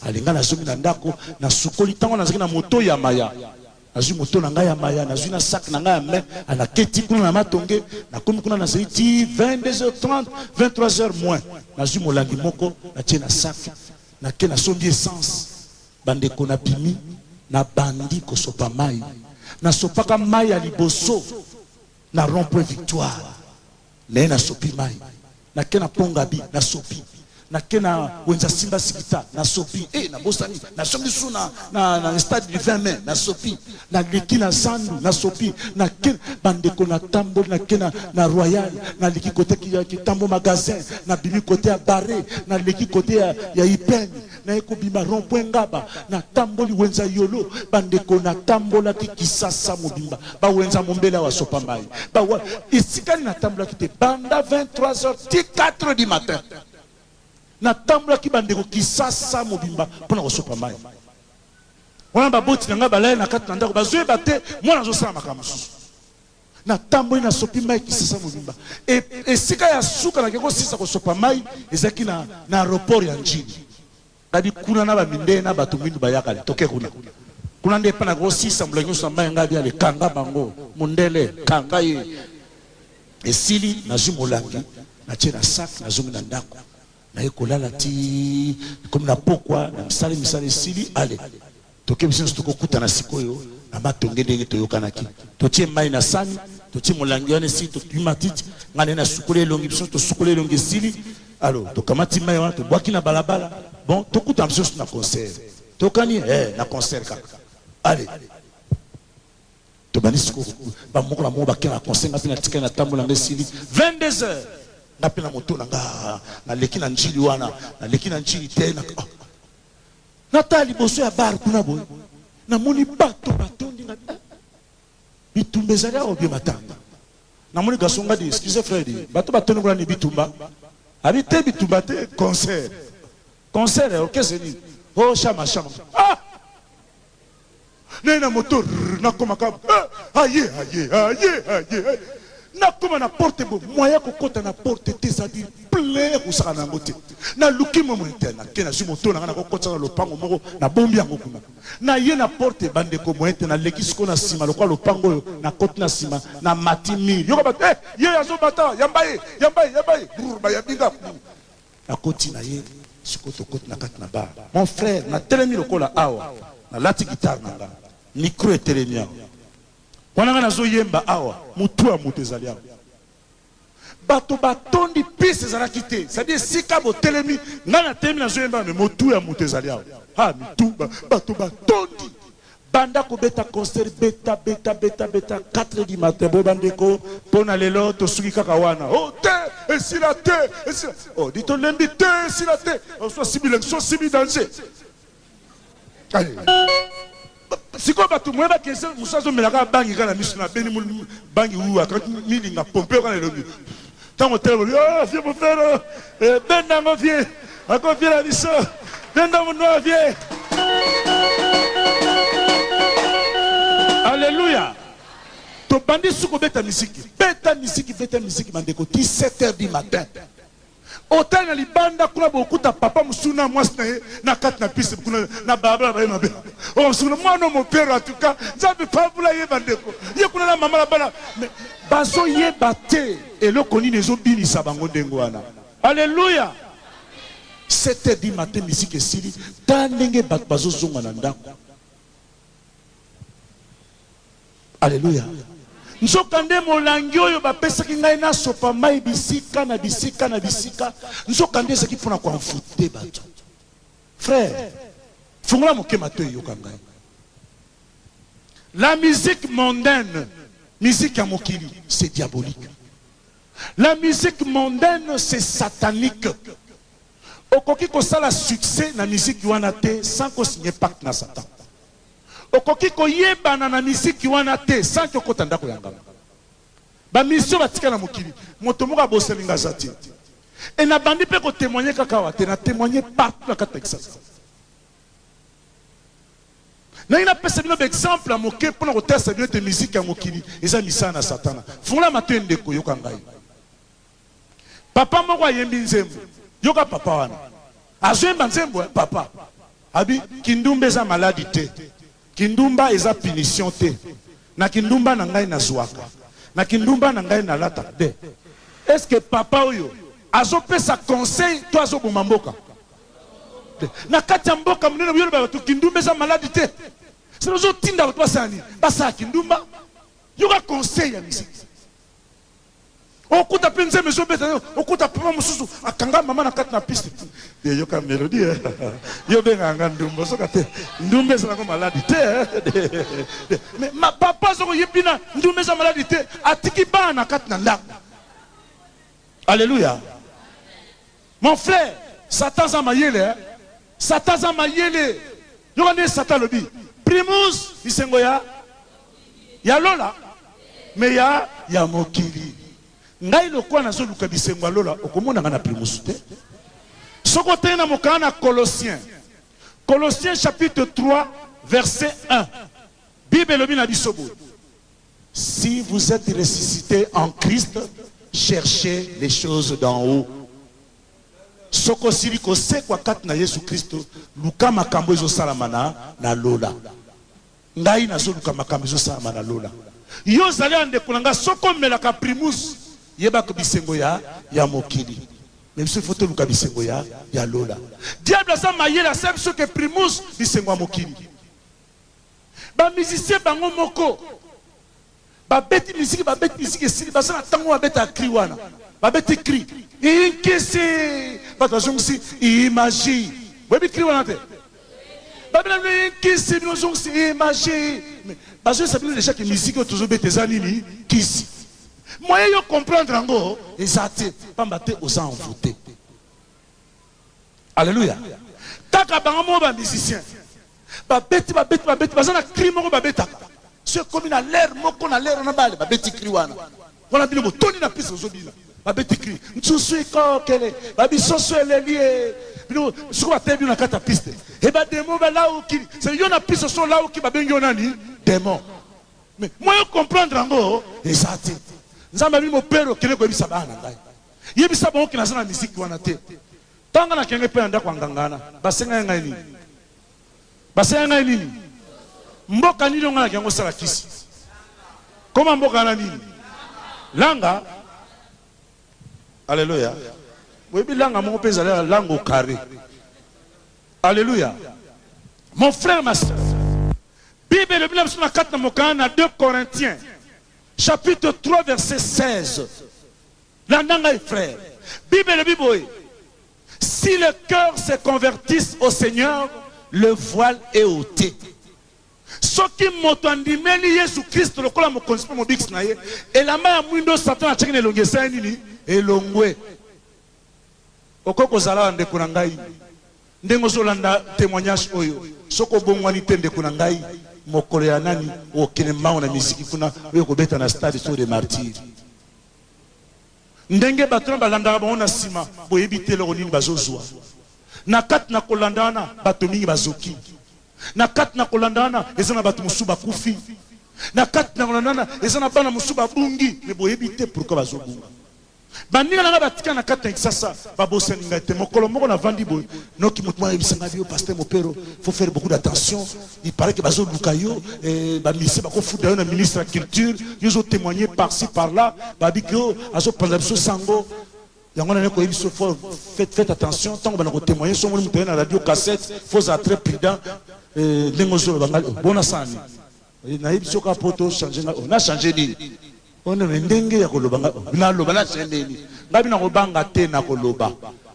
alinga na zongi na ndako na sukoli ntango nazalaki na moto ya maya nazwi moto na ngai ya maya nazwi na sac na ngai ya mai anaketi kuna na matonge nakomi kuna nazali ti 22h30 23h moins nazwi molangi moko natie na sac nake nasombi essence bandeko na bimi nabandi kosopa mai nasopaka mai ya liboso na rond point victoire Naye na sopi mayi na ke na pont ngabi na sopi na ke na wenza simba sikita na sopi eh na bosani na songi su na na stade du 20 mai na sopi na leki na zandu na sopi na ke ba ndeko na tamboli na ke na na royal na liki kote ki tambo magasin na bimi kote ya barre na leki kote ya ya ipene Naye kobima rond point ngaba na tamboli wenza yolo ba ndeko na tambolaki kisasa mobimba ba wenza mombele awa sopa mayi ba wa esikani na tambolaki te banda 23 heures ti 4 du matin na tambolaki ba ndeko kisasa mobimba pona kosopa mayi wana baboti na ngai balali na kati na ndako bazoyeba te mwana azosala makambo mosusu Natamboli, nasopi mai kisasa mobimba. E, esika ya suka nake kosisa kosopa mai ezalaki na, na aeroport ya Njini. Kadi kuna na bamindele na bato mindu bayakali toke kuna. Kuna nde epa nake kosisa mbula nyonso na mai ngai biale kanga bango mundele kanga ye. Esili nazwi molangi natie na sac nazongi na ndako. Naye kolala ti ekomi na pokwa na misala misala esili ale toke biso nionso toko kutana sikoyo na matonge ndenge toyokanaki totie mayi na sani totie molangi wana esili totui matiti nga naye nasukoli elongi biso tosukoli elongi esili alo tokamati mayi wana tobwaki na balabala bon tokutana biso nionso na concert tokani eh na concert kaka ale Tobandi sikoyo ba moko na moko ba kenda na concert nga pe na tikali na tambola nga esili 22 heures nga pe na moto na nga na leki na ndjili wana na leki na ndjili te na oh. na ta liboso ya bar kuna boye na moni bato batondi nga eh. bitumba ezali awa bie matanga na moni gaso nga di excuse fredi bato batondi kuna ni bitumba abi te bitumba te concert concert eh, orchestre nini oh shama shama ah Naye na moto rrr nakoma ka eh aye aye aye aye eh nakoma na porte bo moyen kokota na porte te ça dire plein kosaka na yango te naluki mwa mwa te nake nazwi moto na ngai nakokotisa na lopango moko nabombi yango kuna naye na porte bandeko moyen te naleki siko na nsima lokola lopango oyo nakoti na nsima na mati mire yoka bato eh ye azobata yamba ye yamba ye yamba ye brr bayambi nga Nakoti na ye, sikoyo tokoti na kati na bar. Mon frère, natelemi lokola awa, nalati guitare na nga, micro etelemi awa. Wana nga nazo yemba awa, mutu ya moto ezali awa. Bato batondi, piste ezalaki te, c'est à dire esika botelemi, nga natelemi nazo yemba awa mais motu ya moto ezali awa. Ha! Mitu, bato batondi. Banda kobeta concert beta beta beta beta 4 du matin bo ba ndeko pona lelo tosuki kaka wana oh te esila te esila oh dit tolembi te esila te oswa sibi lekso sibi danger sikoyo bato moye bakese mosusu azomelaka bangi kaka na miso na beni bangi uwa milinga pompe oyo kaka na elongi Tango otelema olobi oh vieux Mofero eh, benda yango vieux akoviela biso benda monua vieux Alléluia tobandi suki obeta miziki beta miziki beta miziki bandeko 17 heures du matin otali na libanda kuna bokuta papa mosusu na mwasi na ye na kati na pise kuna na balabala baye mabe omosuku oh, na mwana mopero atuka nzambe pabula ye bandeko ye kuna na mama na bana Bazo yeba te eloko nini ezo binisa bango ndenge wana. Alleluia! 7h du matin musique esili, tala ndenge batu bazo zonga na ndaku. Alleluia! nzokande molangi oyo bapesaki ngai nasopa mai bisika na bisika na bisika nzokande ezalaki mpo na koanfute bato frere fungola moke mato eyoka ngai La musique mondaine, musique ya mokili c'est diabolique. La musique mondaine c'est satanique. Okoki kosala succès na musique wana te sans ko signer pacte na Satan. Okoki koyebana na musique wana te sans que okota ndako ya nganga. Ba mission batika na mokili, moto moko abosani nga aza te. Et nabandi mpe ko témoigner kaka awa te, na témoigner partout na kati na Kinshasa. Nalingi napesa bino ba exemples ya moke mpo na kotalisa bino ete miziki ya mokili eza misala na Satana. Fungola matoyi ndeko, yoka ngai. Papa moko ayembi nzembo, yoka papa wana azoyemba nzembo eh, papa abi kindumba eza maladi te, Kindumba eza punition te na kindumba na ngai na zuaka na kindumba na ngai na lata be est ce que papa oyo azo pesa conseil to azo boma mboka te na kati ya mboka monene boyoloba bato kindumba eza maladi te sino ozotinda bato basala nini basala kindumba yoka conseil ya misiki Okuta pe nzembo ezo beta yo, okuta papa mususu akanga mama na kati na piste. De yoka melodie eh. Yo benga nga ndumba soka te. Ndumba eza nango maladi te. Eh. Mais ma papa zoko yebina ndumba eza maladi te. Atiki bana na kati na ndako. Alléluia. Mon frère satan aza mayele hein satan aza mayele yoka ndenge satan alobi primus bisengo ya ya lola me ya ya mokili ngai lokola nazoluka bisengo ya lola okomonanga na primus te soki oteyi na mokana na colossien colossien chapitre 3 verset 1 bible elobi na biso boye Si vous etes ressuscite en Christ cherchez les choses d'en haut soki osili kosekwa kati na Yesu Kristo luka makambo ezo salama na na lola ngai nazo luka makambo ezo salama na lola yo ozali ya ndeko na ngai soki omelaka primus yebaka bisengo ya ya mokili mais biso faut toluka bisengo ya ya lola diable aza mayele asabi soki primus bisengo ya mokili Ba musiciens bango moko ba beti musique ba beti musique esili baza na tango ba beta cri wana ba beti cri inkisi bato bazongisi imagi boyebi cri wana te babina bino inkisi bino zongisi imagi bazoyesa bino deja ke musique oyo tozobeta eza nini kisi moye yo comprendre yango eza te pamba te oza envoute Alleluia kaka bango moko ba musiciens babeti babeti babeti baza na cri moko babetaka so ekomi na lere moko na lere wana bale babeti cri wana wana bino botoni na pise ozobina babeti cri nsusu ikokele babisoso elelie bino soko bateye bino na kati ya piste e bademo balauki se yo na piste so olauki babengi yo nani demo mais moyo comprendre yango eza te nzambe abi mopere okende koyebisa bana na ngai Yebisa bango ke naza na miziki wana te. Tala nga nakende mpe na ndako ya nganga wana. Basengaki ngai nini? Basengaki ngai nini? Mboka nini oyo ngai naki yango osala kisi? Koma mboka wana nini? Langa. Aleluya. Oyebi langa moko mpe ezali ya lango kare. Aleluya. Mon frère, ma soeur, Bible elobi na biso na kati na mokanda na 2 Corinthiens chapitre 3 verset 16 Landa ngai frère, bible elobi boye si le coeur se convertisse au seigneur le voile est ote soki moto andimeli yesu christ lokola mokonzi mpe mobikisi na ye elamba ya mwindo satana atyaki na elongi esali nini elongwe okoki kozala wa ndeko na ngai ndenge ozolanda témoignage oyo soki obongwani te ndeko na ngai mokolo ya nani okende mbango na miziki kuna oyo kobeta na stade so de martyre Ndenge bato wana balandaka bango na sima, boyebi te eloko nini bazo zua na kati na kolanda wana. Bato mingi bazoki na kati na kolanda wana. Eza na bato mosusu bakufi na kati na kolanda wana. Eza na bana mosusu babungi, mais boyebi te pourquoi bazo bunga. Baninga na ngai batikala na kati na Kinshasa babosani ngai te. Mokolo moko navandi boye, noki moto moko ayebisa ngai, Yo Pasteur Mopero, faut faire beaucoup d'attention. Il parait que bazo luka yo eh, ba mise bako futa yo na ministre ya culture yo zo témoigner par ci par là babi que yo azo panza biso sango yango na ko yebiso faut faites faites attention tango bana ko témoigner songo mutu na radio cassette faut être très prudent eh, ndenge ozo bangali bona sani eh, na yebiso ka poto changer na oh, na changer nini Oyo nde ndenge ya koloba nga naloba na semeli ngai bino nako banga te nako loba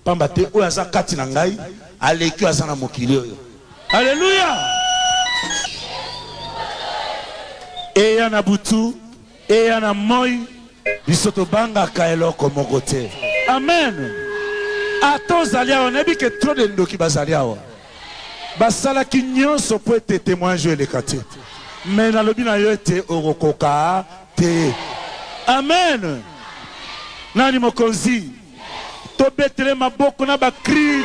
pamba te oyo aza kati na ngai aleki oyo aza na mokili oyo aleluya eya na butu eya na moi biso tobangaka eloko moko te amen ata ozali awa nayebi ke trop de ndoki bazali awa Basalaki nyonso mpo ete temoignage oyo eleka te, mais nalobi na yo ete okokoka te. Amen! Nani mokonzi? Tobetele maboko na ba cris.